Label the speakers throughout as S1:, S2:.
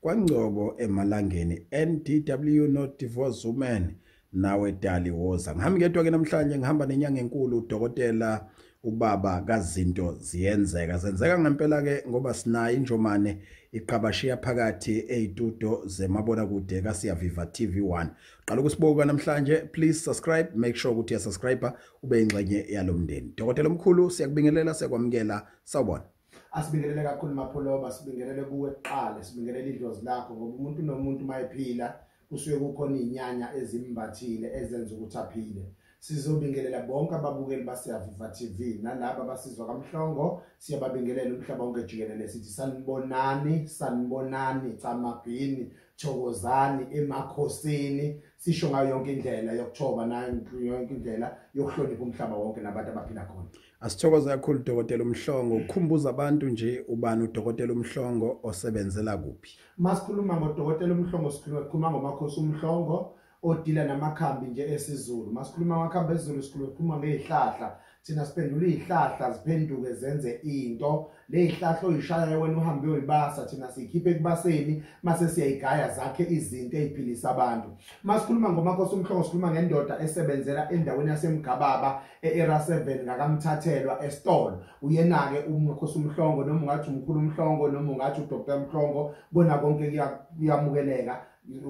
S1: KwaNgcobo eMalangeni NDW not divorce woman nawe dali woza ngihamba ngedwa ke namhlanje ngihamba nenyanga enkulu udokotela ubaba kazinto ziyenzeka zenzeka ngempela ke ngoba sinayo injomane iqabashiya phakathi ezitudo zemabona kude kaSiya Viva TV1 qala ukusibuka namhlanje please subscribe make sure ukuthi uyasubscribe ube ingxenye yalomndeni dokotela omkhulu siyakubingelela siyakwamukela sawubona asibingelele kakhulu
S2: maphuloba sibingelele kuwe kuqala sibingelele idlozi lakho ngoba umuntu nomuntu mayephila kusuke kukhona izinyanya ezimbathile ezenza ukuthi aphile sizobingelela bonke ababukeli baseyaviva TV nalabo abasizwa kamhlongo siyababingelela umhlaba wonke jikelele sithi sanibonani sanibonani camabhini thokozani emakhosini sisho ngayo yonke indlela yokuthoba nayo yonke indlela yokuhlonipha umhlaba wonke nabantu abaphila khona Asithokoze kakhulu
S1: Dokotela uMhlongo ukukhumbuza abantu nje ubani uDokotela uMhlongo osebenzela kuphi. Masikhuluma ngoDokotela
S2: uMhlongo sikhuluma sikhuluma ngomakhosi uMhlongo odila namakhambi nje esiZulu. Masikhuluma ngamakhambi esiZulu sikhuluma sikhuluma ngezihlahla. Thina siphendula izihlahla ziphenduke zenze into leyihlahla oyishaya wena uhambe uyibasa thina siyikhiphe kubaseni mase siyayigaya zakhe izinto eziphilisa abantu masikhuluma ngomakhosi umhlongo sikhuluma ngendoda esebenzela endaweni yasemgababa eera 7 ngakamthathelwa estolo uyena ke umkhosi umhlongo noma ungathi umkhulu umhlongo noma ungathi udr umhlongo bona konke kuyamukeleka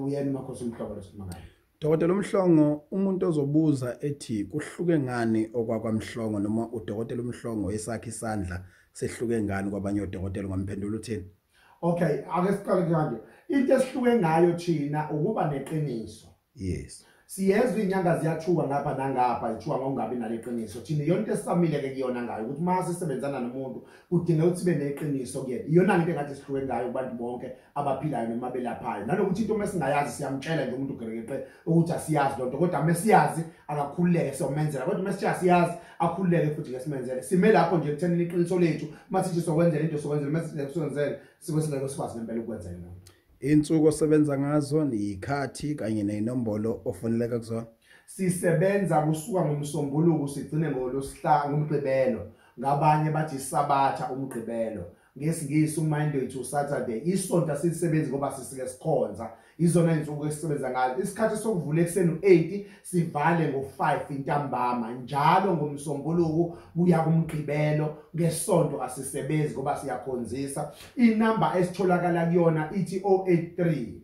S2: uyena umakhosi umhlongo lesikhuluma ngayo Dokotela uMhlongo
S1: umuntu ozobuza ethi kuhluke ngani okwakwamhlongo noma udokotela uMhlongo esakhe isandla sehluke ngani kwabanye odokotela ngomphendula uthini Okay ake
S2: siqale kanje into esihluke ngayo thina ukuba neqiniso Yes
S1: siyezwa inyanga
S2: ziyathuka ngapha nangapha ithuka ngokungabi naleqiniso thina yonke esisamile ke kuyona ngayo ukuthi uma sisebenzana nomuntu kudinga ukuthi sibe neqiniso kuyena iyona into engathi sihluke ngayo kubantu bonke abaphilayo noma belaphayo nanokuthi into uma singayazi siyamtshela nje umuntu ugerekeqe ukuthi asiyazi loo nto kodwa uma siyazi akakhululeke siyomenzela kodwa uma sithiya siyazi akhululeke futhi ke simenzele sime lapho nje ekuthenini iqiniso lethu uma sithi sokwenzela into sokwenzela uma sithi sokwenzela sibe singeke sikwazi ngempela ukwenzela loo nto insuku osebenza
S1: ngazo niyikhathi kanye neyinombolo ofaneleka kuzona sisebenza
S2: kusuka ngomsombuluko sigcine ngolosihlanu ngomgqibelo ngabanye bathi sabatha umgqibelo ngesingisi umonday to saturday isonto asilisebenzi ngoba sisike sikhonza izona insuku esisebenza ngazo isikhathi sokuvula ekuseni u-8 sivale ngo-5 intambama njalo ngomsombuluku kuya kumgqibelo ngesonto asisebenzi ngoba siyakhonzisa inamba esitholakala kuyona ithi 083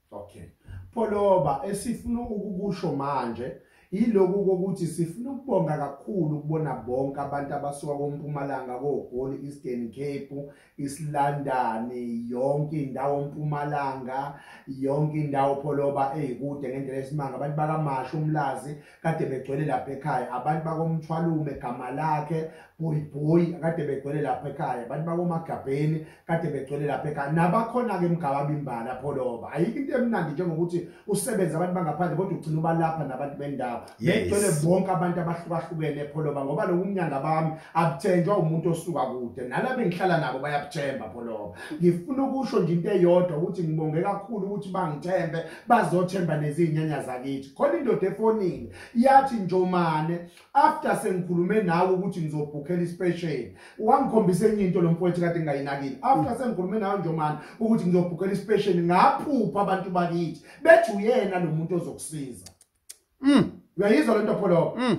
S1: Okay.
S2: Pholoba esifuna ukukusho manje yiloku kokuthi sifuna ukubonga kakhulu ukubona bonke abantu abasuka kompumalanga koGoli Eastern Cape isilandani yonke indawo mpumalanga yonke indawo pholoba ezikude ngendlela esimanga abantu bakamashu umlazi kade begcwele lapha ekhaya abantu bakomthwalume gama lakhe bhoyibhoyi kade begcwele lapha ekhaya abantu bakomagabheni kade begcwele lapha ekhaya nabakhona-ke mgababimbala pholoba ayikho into emnandi njengokuthi usebenze abantu bangaphandle kodwa ugcina ubalapha nabantu bendawo begcwele bonke abantu abahlukahlukene pholoba ngoba lokumnyanga bami abuthenjwa umuntu osuka kude nalaba engihlala nabo bayabuthemba pholoba ngifuna ukusho nje into eyodwa ukuthi ngibonge kakhulu ukuthi bangithembe bazothemba nezinyanya zakithi khona indoda efonini yathi njomane after sengikhulume nawe ukuthi ngizobhukhela ispecial wangikhombisa enye into lo mfowethu kade ngingayinakile after sengikhulume nawe njomane ukuthi ngizobhukhela ispecial ngaphupha abantu bakithi bethi uyena lo muntu ozokusiza mm uyayizwa lento pholo mm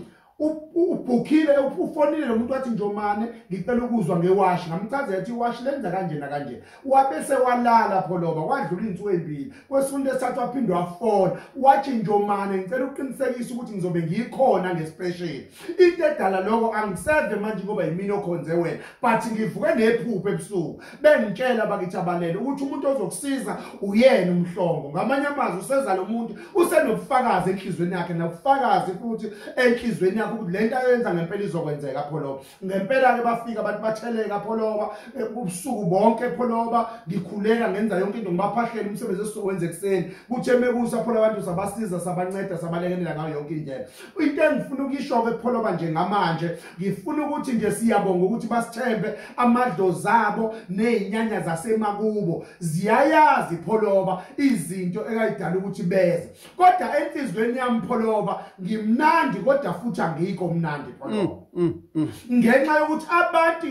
S2: ubhukhile ufonile lo muntu wathi njomane ngicela ukuzwa ngewashi ngamchazela ukuthi iwashi lenza kanjena kanje wabe sewalala pholoba wadlula iy'nsuku ey'mbili kwesunto esithathu waphinde wafona wathi njomane ngicela ukuqinisekisa ukuthi ngizobe ngiyikhona ngespesheli into edala lokho angiseve manje ngoba yimini okhonze wena but ngivuke nephupho ebusuku bengitshela bakithi abalele ukuthi umuntu ozokusiza uyena umhlongo ngamanye amazwi useza lo muntu usenobufakazi enhlizweni yakhe nobufakazi futhi enhlizweni yakhe ukuthi lento ayenza ngempela izokwenzeka pholoba ngempela ke bafika abantu batheleka pholoba ubusuku bonke pholoba ngikhuleka ngenza yonke into ngibaphahlele umsebenzi esizowenza ekuseni kuthe mekusa pholoba abantu sabasiza sabanceda sabalekelela ngayo yonke indlela into engifuna ukuyisho-ke pholoba njengamanje ngifuna ukuthi nje siyabonga ukuthi basithembe amadlozi abo ney'nyanya zasemakubo ziyayazi pholoba izinto ekayidala ukuthi beze kodwa enhliziyweni yami pholoba ngimnandi kodwa futhi angikho mnandi pholoba mm, mm, mm. ngenxa yokuthi abantu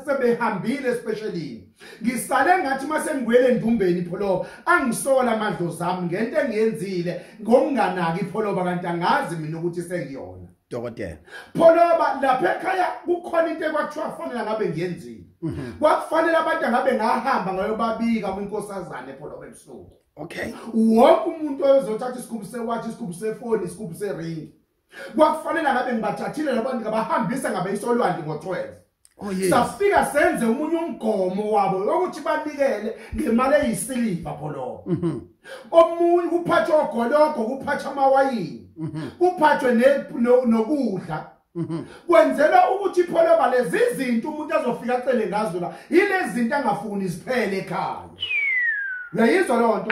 S2: sebehambile especially ngisale ngathi uma sengibuyele endumbeni ipholoba angisola amadlozi ami ngento engiyenzile ngokunganaki ipholoba kanti angazi mina ukuthi sengiyona dokotela
S1: pholoba
S2: lapha ekhaya kukhona into ekwakuthiwa kufanele ngabe ngiyenzile mhm. kwakufanele abantu angabe ngahamba ngayobabika kwinkosazane epholoba ebusuku okay
S1: wonke umuntu
S2: oyozothatha isigubhu sewathi isigubhu sefoni isigubhu seringi kwakufanele ngabe ngibathathile labo ngabahambisa ngabe isolwandle ngo-12 Oh, yes. safika
S1: senze umunye
S2: umgomo wabo ukuthi banikele ngemali eyisiliva pholobo mm -hmm. omunye kuphathwa ogologo kuphathwa amawayini mm -hmm. kuphathwe nokudla no, Mhm. kwenzela ukuthi pholoba lezi zinto umuntu azofika acele ngazo la yilezi zinto angafuni ziphele ekhaya uyayizwa loo nto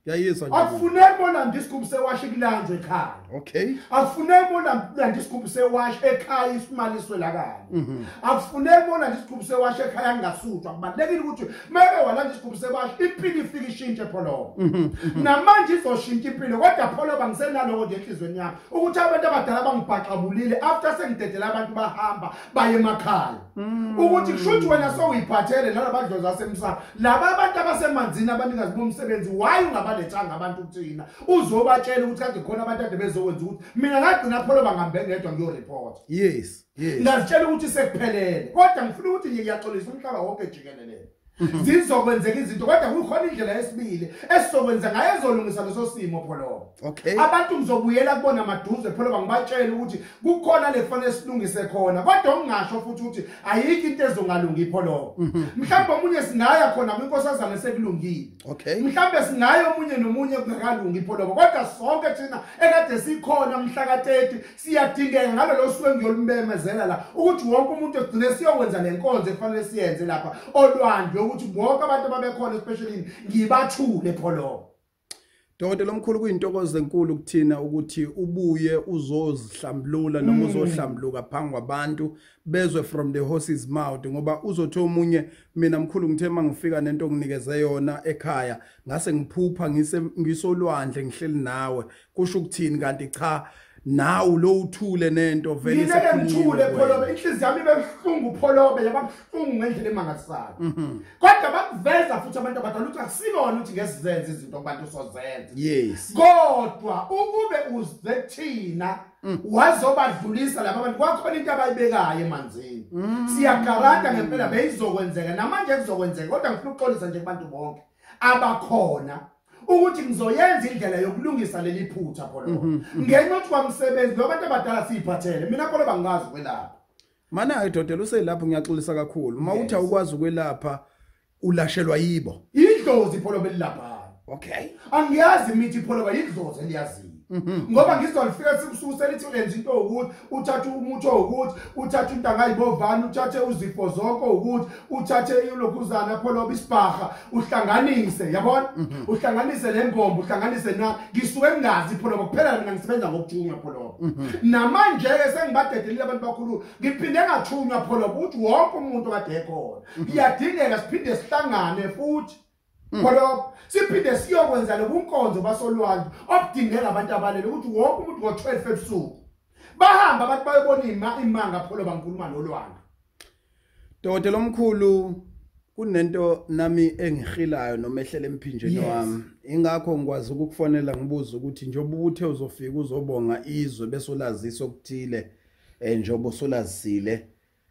S2: yayizwa
S1: akufuneki bona ndisigubhu
S2: sewashi ekulanjwe ekhaya okay akufuneki
S1: bona
S2: ndisigubhu sewashi ekhaya isimali swelakala mhm. akufuneki bona ndisigubhu sewashi ekhaya ngingasutshwa kubalekile ukuthi meke wala ndisigubhu sewashi impilo ifika ishintshe pholoba mhm. namanje izoshintsha impilo kodwa pholoba ngisenaloko nje enhlizweni yami ukuthi abantu abadala bangibhaxabulile after sengidedela abantu bahamba baye emakhaya mm. ukuthi kushuthi wena sowuyiphathele nalabadlozi basemsana laba abantu abasemanzini abanikazi bomsebenzi why ungabalethanga abantu kuthina uzobatshela ukuthi kade khona abantu ade bezokwenza ukuthi mina ngagcina pholo bangambe ngedwa ngiyoreport yes yes
S1: ngazitshela ukuthi
S2: sekuphelele kodwa ngifuna ukuthi ngiyaxolisa umhlaba wonke jikelele mhm. zizokwenzeka izinto kodwa kukhona indlela yesibili esizokwenza ngayo ezolungisa leso simo pholoba okay abantu
S1: ngizobuyela
S2: kubona maduze pholoba ngibatshele ukuthi kukhona le kufanele silungise khona kodwa ungasho futhi ukuthi ayikho into ezongalungi pholoba mhm. mhlawumbe omunye singaya khona kwinkosazana sekulungile okay mhlawumbe
S1: singaya omunye
S2: nomunye kungakalungi pholoba kodwa sonke thina ekade sikhona mhla ka-30 siyadingeka ngalolo suku engiyolumemezela la ukuthi wonke umuntu egcine siyokwenza le nkonzo ekufanele siyenze lapha olwandle ukuthi bonke abantu ababekhona especially ngibathule pholobo Dokotela
S1: omkhulu kuyintokozo enkulu kuthina ukuthi ubuye uzozihlambulula noma mm. uzohlambuluka phambi kwabantu bezwe from the horse's mouth ngoba uzothi omunye mina mkhulu ngithe mangifika nento nginikeze yona ekhaya ngase ngiphupha ngise ngisolwandle ngihleli nawe kusho ukuthini kanti cha nawu lo uthule nento vele ngeke ngithule pholobe
S2: inhliziyo yami bebuhlungu pholobe yababuhlungu ngendlela emangalisayo mhm. kodwa bakuveza futhi abantu abadala ukuthi akusikona ukuthi ngesizenze izinto kubantu sozenza yes
S1: kodwa
S2: ukube uze thina mm. wazobadlulisa laba bantu kwakhona into abayibekayo emanzini mm. siyagaranta ngempela beyizokwenzeka namanje kuzokwenzeka kodwa ngifuna ukuxolisa nje kubantu bonke abakhona ukuthi ngizoyenza indlela yokulungisa leli phutha khona mhm, mhm. ngenxa yokuthi kwamsebenzi lo bantu abadala siyiphathele mina khona bangazi ukwelapha mana hayi
S1: dodela uselapho ngiyaxolisa kakhulu uma uthi awukwazi ukwelapha ulashelwa yibo idlozi pholo
S2: belilapha okay
S1: angiyazi imithi
S2: pholo bayidlozi eliyaziyo Mhm. ngoba ngizwa lifika sekusuku selithi ulenza into ukuthi uthathe umuthi owukuthi uthathe into angayibovani uthathe uzifo zonke owukuthi uthathe ilokhuzana pholoba isibhaha uhlanganise yabona mhm. uhlanganise le mbombo uhlanganise na ngisuke ngingazi pholoba kuphela mina ngisebenza ngokuthunywa pholoba mhm. namanje-ke sengibadedelile abantu bakhulu ngiphinde ngathunywa pholoba ukuthi wonke umuntu kade ekhona kuyadingeka siphinde sihlangane futhi Mm. khonokho siphinde siyokwenza lobunkonzo basolwandle obudingeka abantu abalele ukuthi wonke umuntu ngo-12 ebusuku bahamba abantu bayobona imanga pholo bangikhuluma nolwanga
S1: dokotela omkhulu kunento nami engihilayo noma ehlela emphinjeni wami ingakho ngikwazi ukukufonela ngibuze ukuthi njengoba ubuthe uzofika uzobonga izwe bese ulazisa okuthile um njengoba usulazisile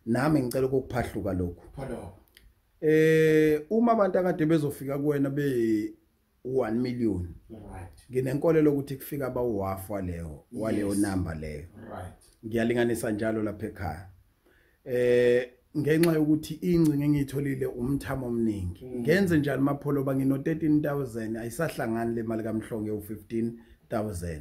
S1: nami ngicela ukukuphahluka lokhu
S2: eh
S1: uma abantu akade bezofika kuwena be 1 million right
S2: nginenkolelo ukuthi
S1: kufika ba uhafu waleyo waleyo number leyo right
S2: ngiyalinganisa njalo
S1: lapha ekhaya eh ngenxa yokuthi ingcinga engiyitholile umthamo omningi mm. ngenze njani mapholo ba ngino 13000 ayisahlangani le mali kamhlonge u 15000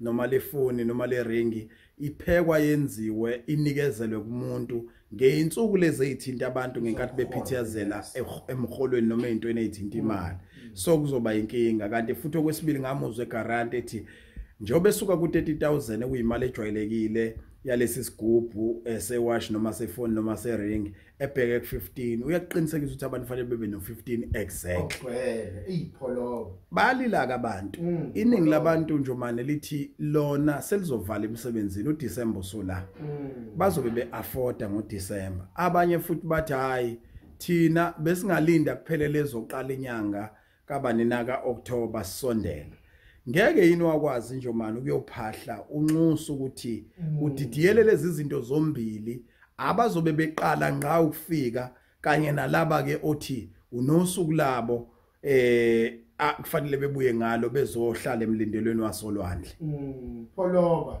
S1: noma lefoni noma leringi iphekwa yenziwe inikezelwe kumuntu ngeyinsuku lezi ezithinta abantu ngenkathi bephithiyazela emholweni noma ezintweni ezithinta imali so kuzoba inkinga kanti futhi okwesibili ngamuzwe garant ethi njengoba esuka ku-30000 ekuyimali ejwayelekile yalesi sigubhu eh, sewash noma sefoni noma sering ebheke ku 15 uyakuqinisekisa ukuthi abantu fanele bebe no 15 exact ogcwele ipholo
S2: balila
S1: kabantu mm, iningi labantu nje manje lithi lona selizovala emsebenzini u December sola mm. bazobe be afforda ngo December abanye futhi bathi hayi thina besingalinda kuphele lezoqala inyanga kabanina ka-october sisondela ngeke yini wakwazi njomani ukuyophahla unxusa ukuthi mm. udidiyele lezi zinto zombili abazobe beqala ngqa ukufika kanye nalaba ke othi unosuku labo eh kufanele bebuye ngalo bezohlala emlindelweni wasolwandle mm. pholoba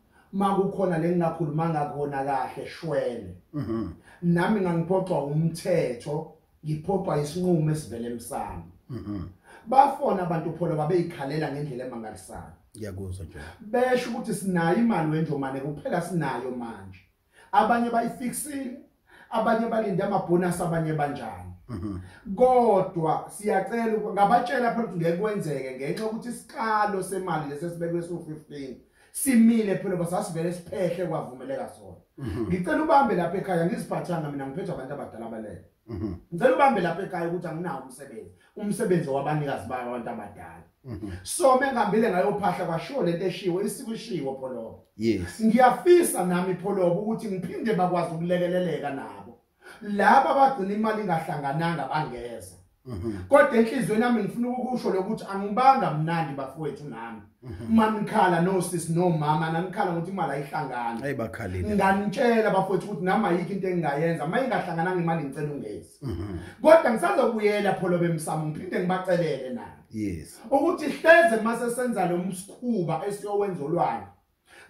S2: makukhona lengingakhuluma ngakona kahle shwele mhm. nami ngangiphoxwa umthetho ngiphoxwa isinqumo esivele emsamo mhm. bafona abantu pholo babeyikhalela ngendlela emangalisayo ngiyakuzwa nje
S1: besho ukuthi sinayo
S2: imali wenjomane kuphela sinayo manje abanye bayifixile abanye balinde amabhonus abanye banjani mhm. kodwa siyacela ngabatshela phela ukuthi ngeke kwenzeke ngenxa ukuthi isiqalo semali lesesibekwe so15 simile phela basasivele siphehle kwavumeleka sona mhm. ngicela ubambe lapha ekhaya ngiziphathanga mina ngiphethe abantu abadala balele mhm. ngicela ubambe lapha ekhaya ukuthi anginawo umsebenzi umsebenzi wabanikazi bayo abantu abadala mhm. so bengihambile ngayophahla kwashiwo lento eshiwo isikushiwo pholobo yes ngiyafisa
S1: nami
S2: pholobo ukuthi ngiphinde bakwazi ukulekeleleka nabo laba abagcina imali ingahlangananga bangeza mhm. kodwa enhlizweni yami ngifuna ukusho lokuthi angibanga mnandi bafowethu nami uma nikhala no sis no mama nanikhala ngokuthi imali ayihlangani hayi bakhalile
S1: nganitshela bafowethu
S2: ukuthi nama yikho into engingayenza uma ingahlangananga imali ngicela ungezi mhm. kodwa ngisazokuyela pholo bemsamo ngiphinde ngibacelele na yes ukuthi
S1: hleze
S2: mase senza lo msikhuba esiyowenza olwayo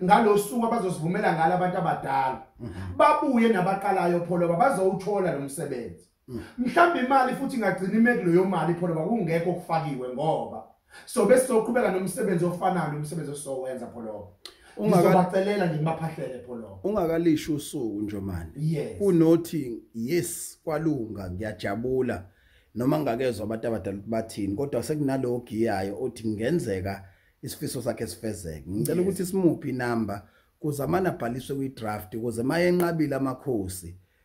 S2: ngalosuku abazosivumela ngalo abantu abadala mhm. babuye nabaqalayo pholo bazowuthola lo msebenzi mm. mhlawumbe imali futhi ingagcina ime kuleyo mali phona bakungekho okufakiwe ngoba so bese soqhubeka nomsebenzi ofanayo nomsebenzi osowenza pholobo ungabacelela nje ngibaphahlele pholo ungakalisho usuku
S1: nje manje yes. kunothi yes kwalunga ngiyajabula noma ngakezwe abantu abadala bathini kodwa sekunalo ogiyayo othi ngenzeka isifiso sakhe sifezeke ngicela ukuthi simuphi inamba kuze amana abhaliswe kwi-draft kuze mayenqabile amakhosi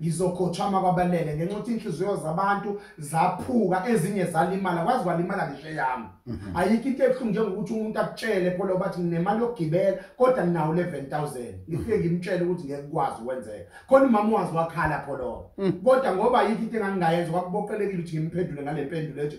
S2: ngizokhothama kwabalele ngenxa ukuthi inhliziyo zabantu zaphuka ezinye zalimala kwazi kwalimala ngisho yami mhm. ayikho into ebuhlungu njengokuthi umuntu akutshele pholo bathi nginemali yokugibela kodwa nginawo 11000 ngifike ngimtshele ukuthi ngeke kwazi ukwenzeka khona umama wazi wakhala pholo mm. kodwa ngoba ayikho into engangingayenza kwakuboqelekile ukuthi ngimphendule ngale mpendulo ethi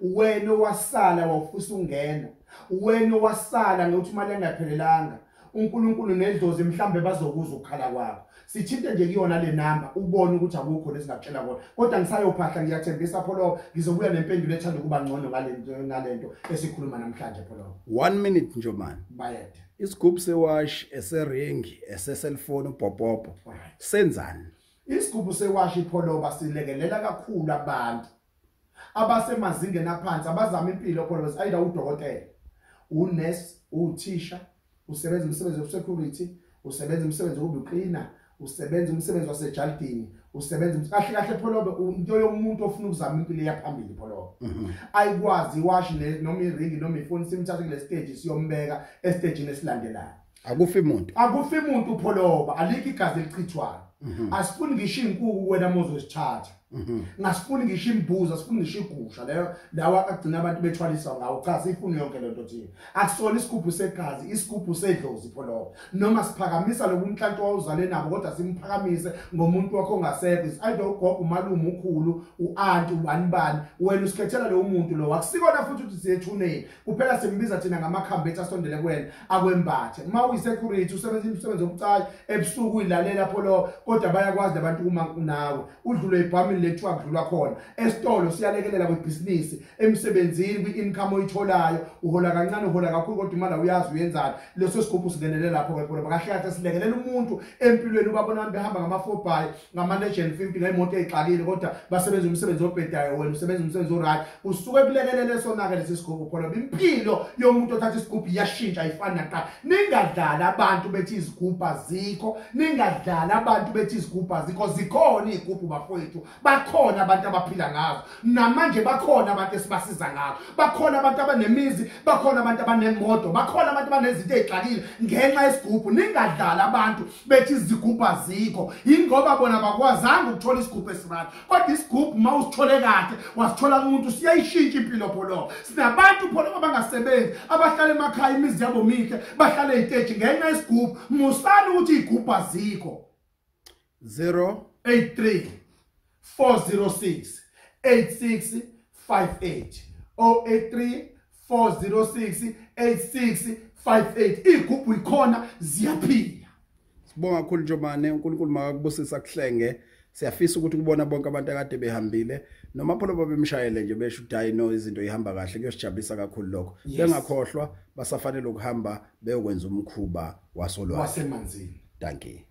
S2: wena owasala wawufusa ungena wena owasala nokuthi imali engaphelelanga uNkulunkulu nedlozi mhlambe bazokuzwa ukukhala kwakho sithinte nje kuyona le number ubone ukuthi akukho lesingakutshela kona kodwa ngisayophahla ngiyathembisa pholo ngizobuya nempendulo ethanda ukuba ngcono ngalento ngalento esikhuluma namhlanje pholo 1 minute nje
S1: man bayede isigubhu
S2: sewash
S1: eseringi eseselfoni ubhopopo senzani isigubhu
S2: sewash ipholoba silekelela kakhulu abantu abasemazingeni aphansi abazama impilo khona bese ayida udokotela unurse uthisha usebenza umsebenzi wesecurity usebenza umsebenzi wokucleaner usebenza umsebenzi wasejalidini usebenza kahle kahle pholobe into yomuntu ofuna ukuzama impilo yaphambili pholobe mhm. ayikwazi iwashi noma iringi noma ifoni simthathe kule stage siyombeka estage esilandelayo akufi muntu
S1: akufi muntu pholoba aliki
S2: igazi elichithwayo mhm. asifuni ngisho inkuku wena mozosithatha mhm. ngasifuni ngisho imbuza asifuni ngisho igusha leyo lawa agcina abantu bethwalisa ngawo cha sifuni yonke lento thina akusona isigubhu segazi isigubhu sedlozi pholoba noma siphakamisa lokunhlantu wawuzale nabo kodwa simphakamise ngomuntu wakho ongasekho is either ugogo umalume ukhulu uanti ubani bani wena usikhethela lo muntu lo akusikona futhi ukuthi siyethuneni kuphela simbiza thina ngamakhambi ethu asondele kuwena akwembathe uma uyisecurity usebenza imisebenzi obucayi ebusuku uyilalela pholo kodwa bayakwazi labantu uma kunawe udlule ibhamini lethu akudlulwa khona esitolo siyalekelela kwebhizinisi emsebenzini kwi-income oyitholayo uhola kancane uhola kakhulu kodwa imali awuyazi uyenzani leso sigubhu singenele lapho kwepholo bakahle kahle silekelela umuntu empilweni ubabona abantu behamba ngamafobhayi ngamalegend fimpila imoto eyixakile kodwa basebenza umsebenzi obhedayo wena usebenza umsebenzi oright usuke kulekelele sonake lesi sigubhu pholo impilo yomuntu othatha isigubhu iyashintsha ayifani naqa ningadlali abantu bethi izigubhu azikho ningadlali abantu bethi izigubhu azikho zikhona izigubhu bafowethu bakhona abantu abaphila ngazo namanje bakhona abantu esibasiza ngabo bakhona abantu abanemizi bakhona abantu abanemoto bakhona abantu banezinto ezixakile ngenxa yesigubhu ningadlali abantu bethi izigubhu azikho yingoba bona bakwazanga ukuthola isigubhu esirani kodwa isigubhu uma usithole kahle wasithola kumuntu siyayishintsha impilo pholobo sinabantu pholobo abangasebenzi abahlala emakhaya imizi yabo mihle bahlale eyiteji ngenxa yesigubhu musani ukuthi iy'gubhu azikho 083 406 8658 083 406 8658 igubhu ikhona ziyaphila sibonga
S1: kakhulu njomane uNkulunkulu makakubusisa kuhlenge siyafisa ukuthi kubona bonke abantu akade behambile noma pholo babemshayele nje besho ukuthi hayi no izinto ihamba kahle kuyosijabulisa kakhulu lokho bengakhohlwa basafanele ukuhamba beyokwenza umkhuba wasolwazi wasemanzini
S2: dankie